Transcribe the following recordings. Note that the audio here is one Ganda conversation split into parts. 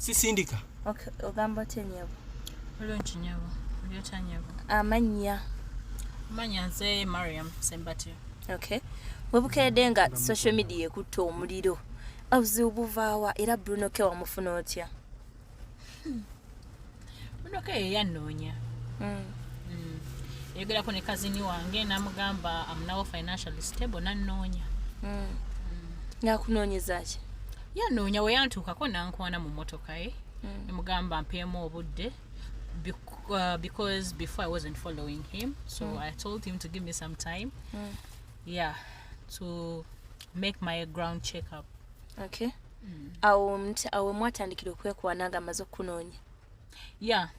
sisindika ogamba otya nyabo bulungi nyabo oli otya nyabo amannya amannya nze mariam sembatyo okay webukedde nga social media ekutte omuliro obuzibu buvaawa era bruno ke wamufuna otya hmm. mudoka eyo yannoonya hmm. hmm. eyogerako ne kazini wange namugamba amunawo financially stable nannoonya hmm. nakunoonyezaki yanoonya weyantuukako nankwana mu motoka ye nemugamba mpeemu obudde uh, because before i wasn't following him so mm. i told him to give me some time mm. yeah to make my ground check up okay mm. awo awo mwatandikira okwekwana nga amaze okukunoonya ya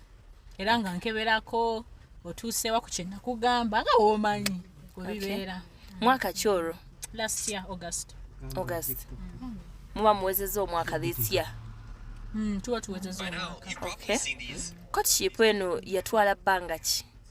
era nga nkeberako otuusewa ku kyenakugamba nga womanyi webibeera mwaka ki olwo last year august august mm. muba muwezeza omwaka this year mm, tuba tuwezeza omwaka okay. courtship eno yatwala bbanga ki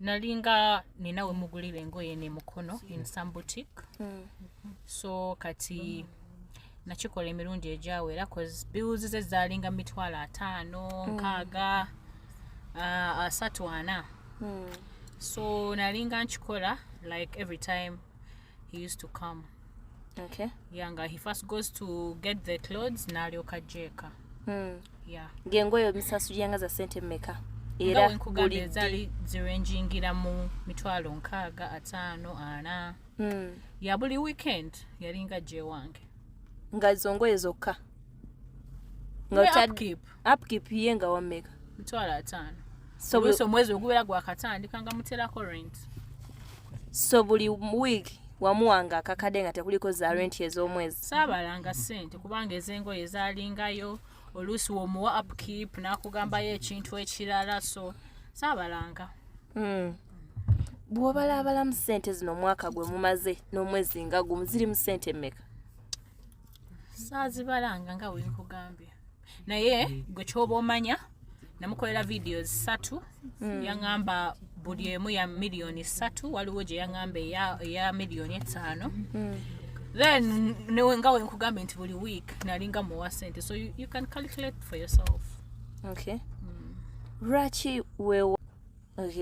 nalinga nina wemugulira engoye nemukono in some boutique mm. so kati mm. nakikola emirundi egyawera cause bills ze zalinga mitwalo ataano hmm. nkaaga uh, asatu ana hmm. so nalinga nkikola like every time he used to come okay. yeah, nga he first goes to get the clothes n'alyoka ajjeeka mm. yeah. ng'engoye obisasuliranga za sente mmeka era wenkugamba ezali zirenjingira mu mitwalo nkaaga ataano ana mm. ya buli weekend yalinga gyewange nga zongoye zokka nga upkeep ye nga wameka mitwalo ataano so buli omwezi ogubeera gwakatandika nga muterako rent so buli week wamuwanga akakade nga tekuliko za rent ez'omwezi saabalanga sente kubanga ezengoye ezalingayo oluusi womuwa upkeep nakugambayo ekintu ekirala so saabalanga mm. bwobalaabalamu sente zino omwaka gwe mumaze n'omwezi nga gumu zirimu sente mmeka saazibalanga nga wenkugambye naye gwe kyoba omanya namukolera vidiyo zisatu mm. yaŋamba buli emu ya miliyoni satu waliwo gye yaŋamba eya miliyoni etaano mm. then newe nga wenkugambye nti buli week nalinga muwa sente so you, you can calculate for yourself okay mm. lwaki mm. wewa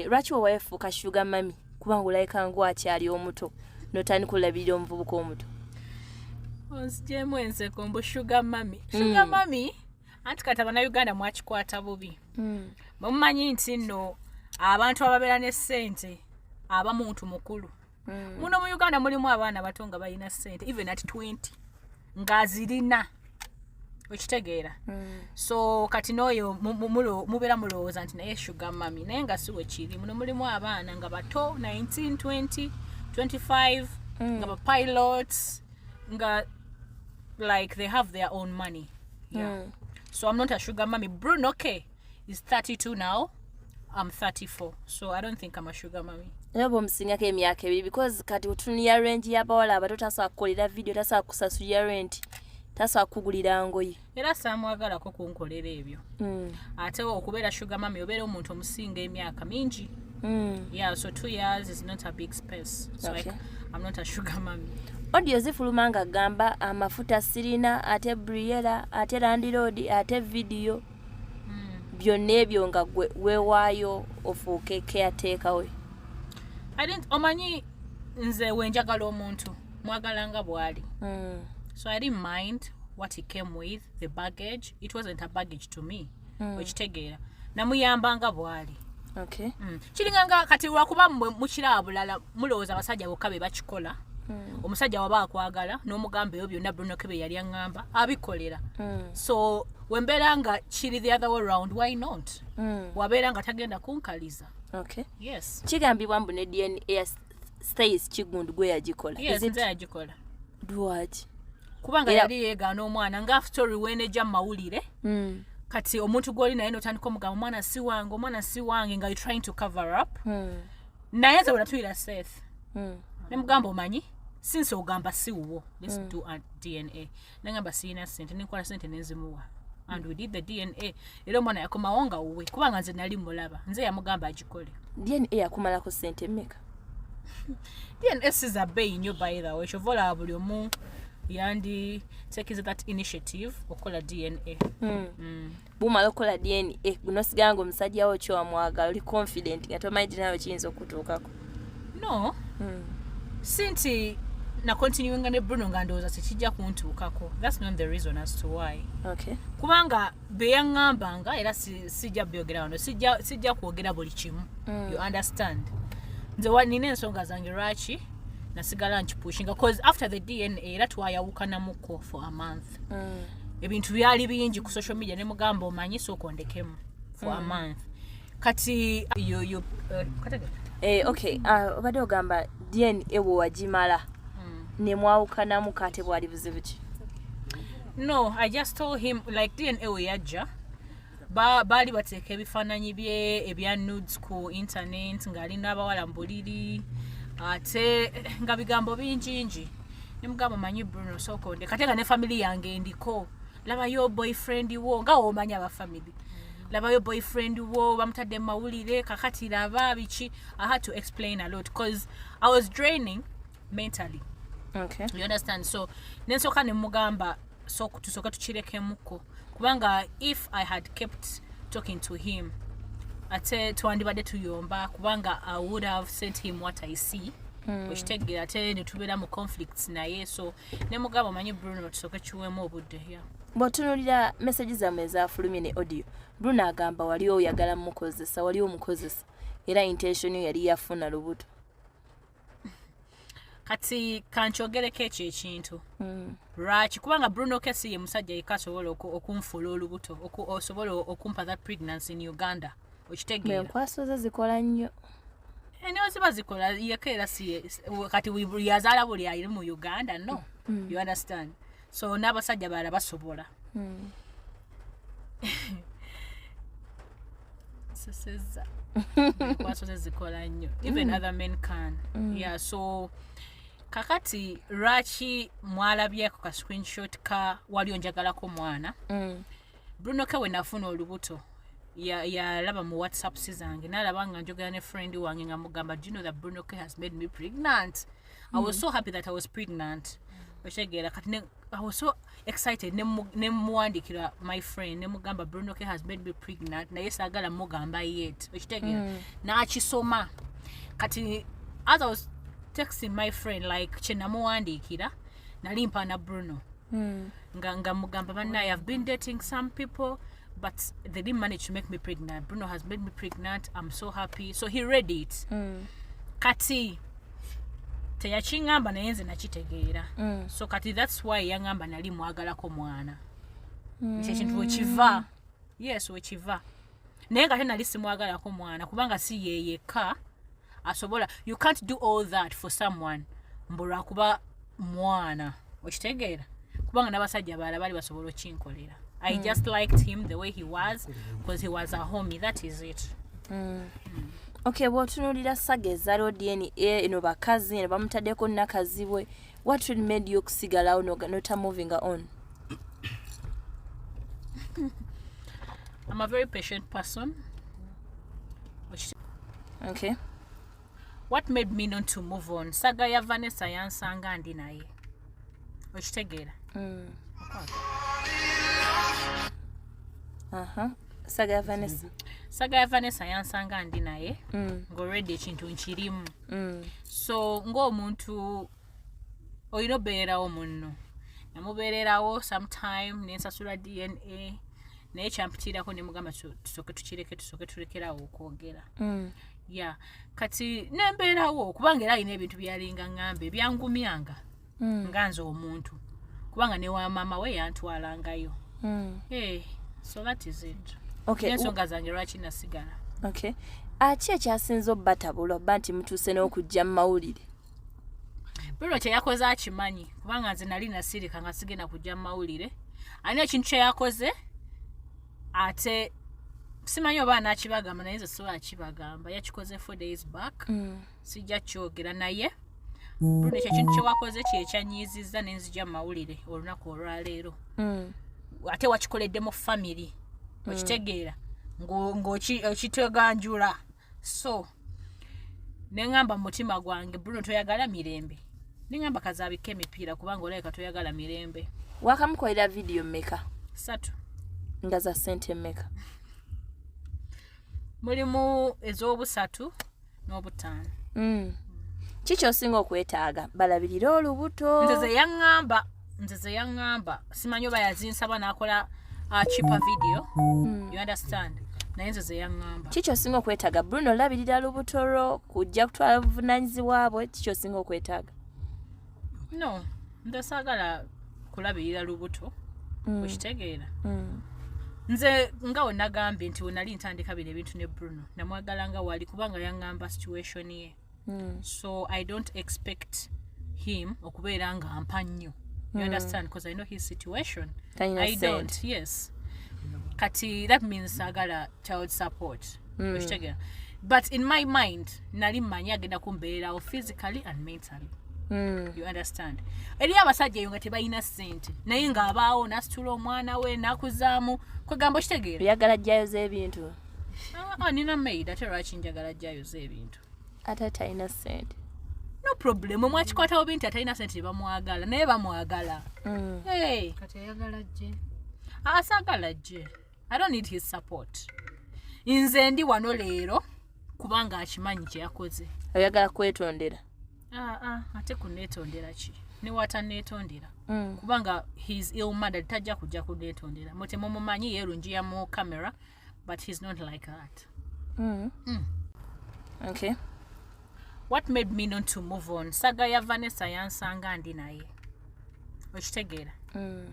lwaki wewayo efuuka shuga mami kubanga olabika ngwakyali omuto notandika olabirira omuvubuka omuto onzijemu enseko mbu shuga mami hmm. shuga mami anti kati abanauganda mwakikwata bubi hmm. bwemumanyi nti nno abantu ababeera ne ssente aba muntu mukulu mm. muno mu uganda mulimu abaana bato nga balina sente even at 20 ngazirina okitegeera mm. so kati nooyo mubeera mulowooza nti naye sugar mami naye nga siwe kiri muno mulimu abaana nga bato 19 20 25 mm. nga bapilots nga like they have their own money yeah. mm. so i'm not a sugar mami bruno okay is 32 now I'm 34 so I don't think I'm a sugar mommy era bwomusingako emyaka ebiri because kati otunuya range yabawala abato tasobola kukolera video tasobola kusasulira renti tasobola kugulira ngoye era samwagalako kunkolera ebyo mm. ate okubeera sugar mami obeera omuntu omusinga emyaka mingi mm. yeah so two years is not a big space so okay. like, i'm not a sugar mami odio zifuluma nga gamba amafuta sirina ate briera ate landiroodi ate vidiyo hmm. byonna ebyo nga gwe wewaayo ofuuke keyateeka we omanyi nze wenjagala omuntu mwagala nga bwali hmm. so i didn't mind what he came with the baggage it wasn't a baggage to me hmm. okitegeera namuyamba nga bwali okay. mm. kiringa nga kati lwakuba mwe mukira bulala mulowooza abasajja bokka be bakikola mm. omusajja waba akwagala n'omugamba ebyo byonna brunoke bye yali aŋŋamba abikolera mm. so wembeera nga kiri the other way round why not mm. wabeera nga tagenda kunkaliza okay. yes. kigambibwa mbu ne dna ya stays kigundu gwe yagikola yes, yagikola lwaki kubanga yali yegaana omwana nga story weneja mumawulire mm. kati omuntu gwoli naye notandika omugamba omwana si wange omwana si wange nga you trying to cover up mm. naye nze bwenatuyira safe mm. nemugamba omanyi since ogamba si wuwo let's mm. do a dna nangamba siyina sente nenkola sente nenzimuwa and we did the dna era omwana yakomawo nga wuwe kubanga nze nali mulaba nze yamugamba agikole dna yakumalako sente meka dna siza beyi nyo baithawe kyova olaba buli omu yandi takiza that initiative okukola dna mm. Mm. bumala okukola dna eh, nosigala nga omusajja wo kyowamwagala oli confident nga tomanyi dinayo kiyinza okukutuukako no hmm. si nti nakontinuinga ne bruno nga ndowooza tekijja kuntuukako thats not the reason as to why okay. kubanga beyaŋambanga era sijja byogera wano sijja kwogera buli kimu mm. you understand nze nina ensonga zange lwaki nasigala nkipushinga bcause after the dna era twayawukanamuko for a month mm. ebintu byali bingi ku social media ne mugamba omanyi sooka ondekemu for mm. a month kati yo, yo, uh, eh, okay uh, obadde uh, ogamba dn ewo wagimala mm. ne mwawukanamu kate bwali buzibu ki no i just told him like dn ewo yajja baali ba bateeka ebifaananyi bye ebya nudes ku internet ng'ali n'abawala mbuliri ate nga bigambo bingingi nemugamba manyi bruno sokonde katenga ne family yange ndiko labayo boyfriend wo nga womanya aba family labayo boyfriend wo bamutadde mu mawulire kakati laba biki i had to explain a lot because i was draining mentally okay. you understand so nensooka nemugamba so tusoke tukirekemuko kubanga if i had kept talking to him ate twandibadde tuyomba kubanga i would have sent him what i see hmm. okitegeera ate netubeera mu conflicts naye so ne mugamba omanyi bruno tusoke kiwemu obudde ya bwotunulira message zammwe ezafulumye ne audio bruno agamba wali oyagala mukozesa wali omukozesa era intention yo yali yafuna lubuto kati kankyogereko ekyo ekintu hmm. lwaki kubanga bruno kesi ye musajja yeka asobola okunfuula olubuto osobola okumpa that pregnancy in uganda okitegeera enkwaso ze zikola nnyo eno ziba zikola yeka era si kati yazaala buli ayiri mu uganda no hmm. you understand so n'abasajja bala basobola hmm. nsesezza lwaki tezikola nnyo even mm. other men can mm. yeah so kakati lwaki mwalabyeko ka screenshot ka wali onjagalako omwana mm. bruno ke we nafuna olubuto yalaba mu whatsapp si zange nalaba nga njogera ne friend wange nga mugamba do you know that bruno ke has made me pregnant i was mm. so happy that i was pregnant mm. otegeera kati I was so excited nemuwandikira my friend nemugamba bruno k has made me pregnant naye sagala mugamba yet okitegera mm. nakisoma kati as i was texting my friend like kyenamuwandiikira nali mpaana bruno mm. nga, nga mugamba banaye i've been dating some people but they didn't manage to make me pregnant bruno has made me pregnant i'm so happy so he read it mm. kati teyakiŋamba naye nze nakitegeera mm. so kati thats why yaŋamba nali mwagalako mwana mm. kyekintu wekiva yes wekiva naye nga te nali simwagalako mwana kubanga si yeyekka asobola you can't do all that for someone mbu lwakuba mwana okitegeera kubanga n'abasajja baala bali basobola okinkolera i mm. just liked him the way he was because he was a homie that is it mm. Mm. okay bwotunulira saga eza lodn eno bakazi eno bamutaddeko nakazibwe what really made you okusigalawo nota moving on i'm a very patient person okay what made me not to move on saga ya vanessa yansanga ndi naye okitegeera mm. uh-huh. saga ya vanessa saga ya vanessa yansanga ndi naye mm. ngaolwedde ekintu nkirimu mm. mm. so ng'omuntu olina obeererawo munno namubeererawo sometime nensasula dna naye kyampitirako nemugamba tusoke tukireke tusoke tulekerawo okwogera mm. ya kati nembeerawo kubanga era alina ebintu byalinga ngambe byangumyanga mm. nga nze omuntu kubanga ne wa maama we yantwalangayo mm. hey, eh, so that is it okay. ensonga zange lwaki nasigala okay. aki ekyasinza obatabula oba nti mutuuse n'okujja mu mawulire biro kyeyakoze akimanyi kubanga nze nali nasirika nga sigenda kujja mu mawulire ani ekintu kyeyakoze ate simanyi oba anakibagamba naye nze siwa akibagamba yakikoze four days back mm. sijja kyogera naye bruno ekyo kintu kyewakoze kyekyanyiizizza nenzija mumawulire olunaku olwaleero hmm. ate wakikoledde mu famiry hmm. okitegeera ngaokiteganjula so neŋamba mu mutima gwange bruno toyagala mirembe neŋamba kazabika emipiira kubanga olabika toyagala mirembe wakamukolera vidiyo meka satu nga za sente meka mulimu ez'obusatu n'obutaano mm. ki kyosinga okwetaaga balabirire olubuto nze zeyaŋŋamba nze zeyaŋŋamba simanyi oba yazinsaba nakola akipa uh, video mm. you understand naye nze zeyaŋŋamba ki kyosinga okwetaaga bruno olabirira lubuto lwo kujja kutwala buvunanyizibwabwe ki kyosinga okwetaaga no nze saagala kulabirira lubuto mm. okitegeera mm. nze nga wenagambye nti wenali ntandika bino ebintu ne bruno namwagala nga wali kubanga yaŋŋamba situation ye mm. so i don't expect him okubeera nga mpa nnyo you mm. understand because i know his situation Tanya i said. don't yes kati that means sagala child support mm. okitegera but in my mind nali mmanyi agenda kumbeerawo physically and mentally Mm. you understand eri abasajja eyo nga tebalina sente naye ng'abaawo nasitula omwana we nakuzaamu kwegamba okitegeera oyagala jjayo z'ebintu ah, ah, nina maid ate lwaki njagala jjayo z'ebintu ate talina sente no problem mwakikwatawo binti atalina sente tebamwagala naye bamwagala mm. asagala jje i don't need his support nze ndi wano leero kubanga akimanyi kyeyakoze ayagala kwetondera ah, ah, ate kunetondera ki newata netondera mm. kubanga his ill mother tajja kujja kunetondera mutemumumanyi yerunjiya mu camera but he's not like that mm. Mm. okay what made me not to move on saga ya vanessa yansanga ndi naye okitegeera mm.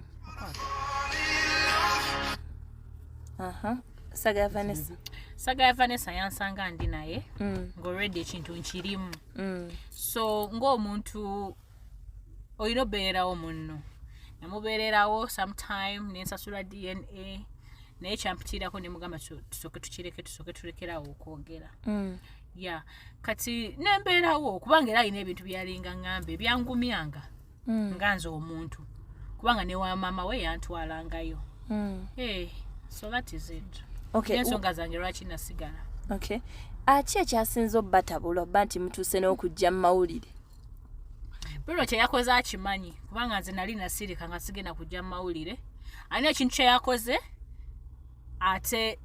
saga ya vanessa saga ya vanessa yansanga ndi naye mm. ngaolredi ekintu nkirimu mm. so ngaomuntu olina obeererawo munno namubeererawo sometime nensasula dna naye kyampitirako nemugamba tusoke tukireke tusoke tulekerawo okwogera ya kati nembeerawo kubanga era alina ebintu byalinga ngambe byangumyanga mm. nga nze omuntu kubanga ne wa maama we yantwalangayo mm. hey, eh, so that is it okay. ensonga zange lwaki nasigala okay. aki ekyasinza obatabula oba nti mutuuse n'okujja mu mawulire bruno kyeyakoze akimanyi kubanga nze nali nasirika nga sigenda kujja mu mawulire ani ekintu kyeyakoze ate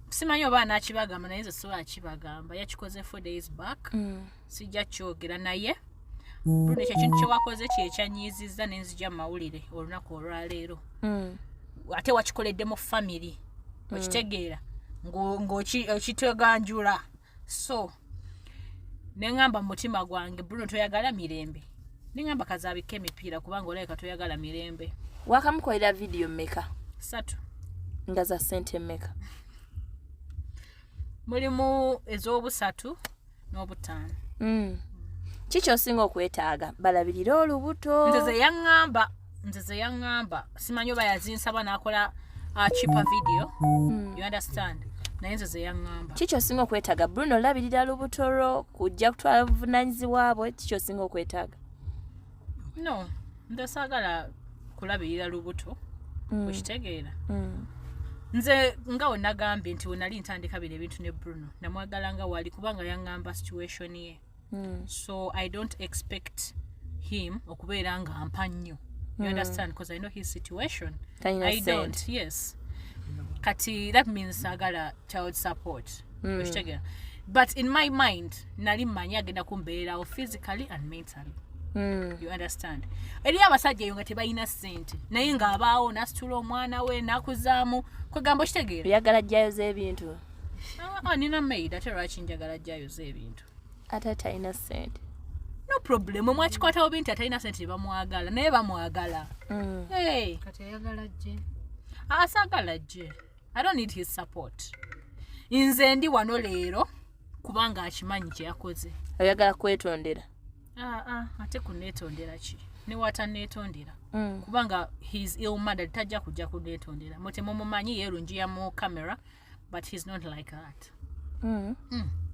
simanyi oba anakibagamba naye nze siwa akibagamba yakikoze four days back mm. sijja kyogera naye bruno ekyo kintu kyewakoze kyekyanyiizizza nenzija mu mawulire olunaku olwaleero mm. ate wakikoledde mu famiry mm. okitegeera ng'okiteganjula so neŋamba mu mutima gwange bruno toyagala mirembe neŋamba kazabika emipiira kubanga olabika toyagala mirembe wakamukolera vidiyo meka satu nga za sente meka mulimu ez'obusatu n'obutaano mm. kiki osinga okwetaaga balabirire olubuto nze zeyaŋŋamba nze zeyaŋŋamba simanyi oba yazinsaba n'akola uh, chipa video mm. you understand naye nze zeyaŋŋamba kikyosinga okwetaaga bruno olabirira lubutoro kujja kutwala buvunanyizibwa bwe kikyosinga okwetaaga no nze saagala kulabirira lubuto mm. okitegeera mm. nze nga wenagambye nti wenali ntandika bino ebintu ne bruno namwagala nga wali kubanga yaŋŋamba situation ye mm. so i don't expect him okubeera nga mpa nnyo you mm. understand because i know his situation Tanya i don't said. yes kati that means agala child support mm. okitegera but in my mind nali manyi agenda kumbeerawo physically and mentally Mm. you understand eriyo abasajja eyo nga tebalina sente naye ng'abaawo nasitula omwana we nakuzaamu kwegamba okitegeera yagala jjayo z'ebintu ah, nina maid ate lwaki njagala ajjayoza ebintu ate atalina sente no problem mwakikwatawo binti atalina sente tebamwagala naye bamwagala mm. kati ayagala jje asagala ah, jje i don't need his support nze ndi wano leero kubanga akimanyi kyeyakoze oyagala kwetondera Ah, ah, ate kunetondera ki newatanetondera mm. kubanga his ill mother tajja kujja kunetondera mutemumumanyi yerunjiya mu camera but he's not like that mm. Mm.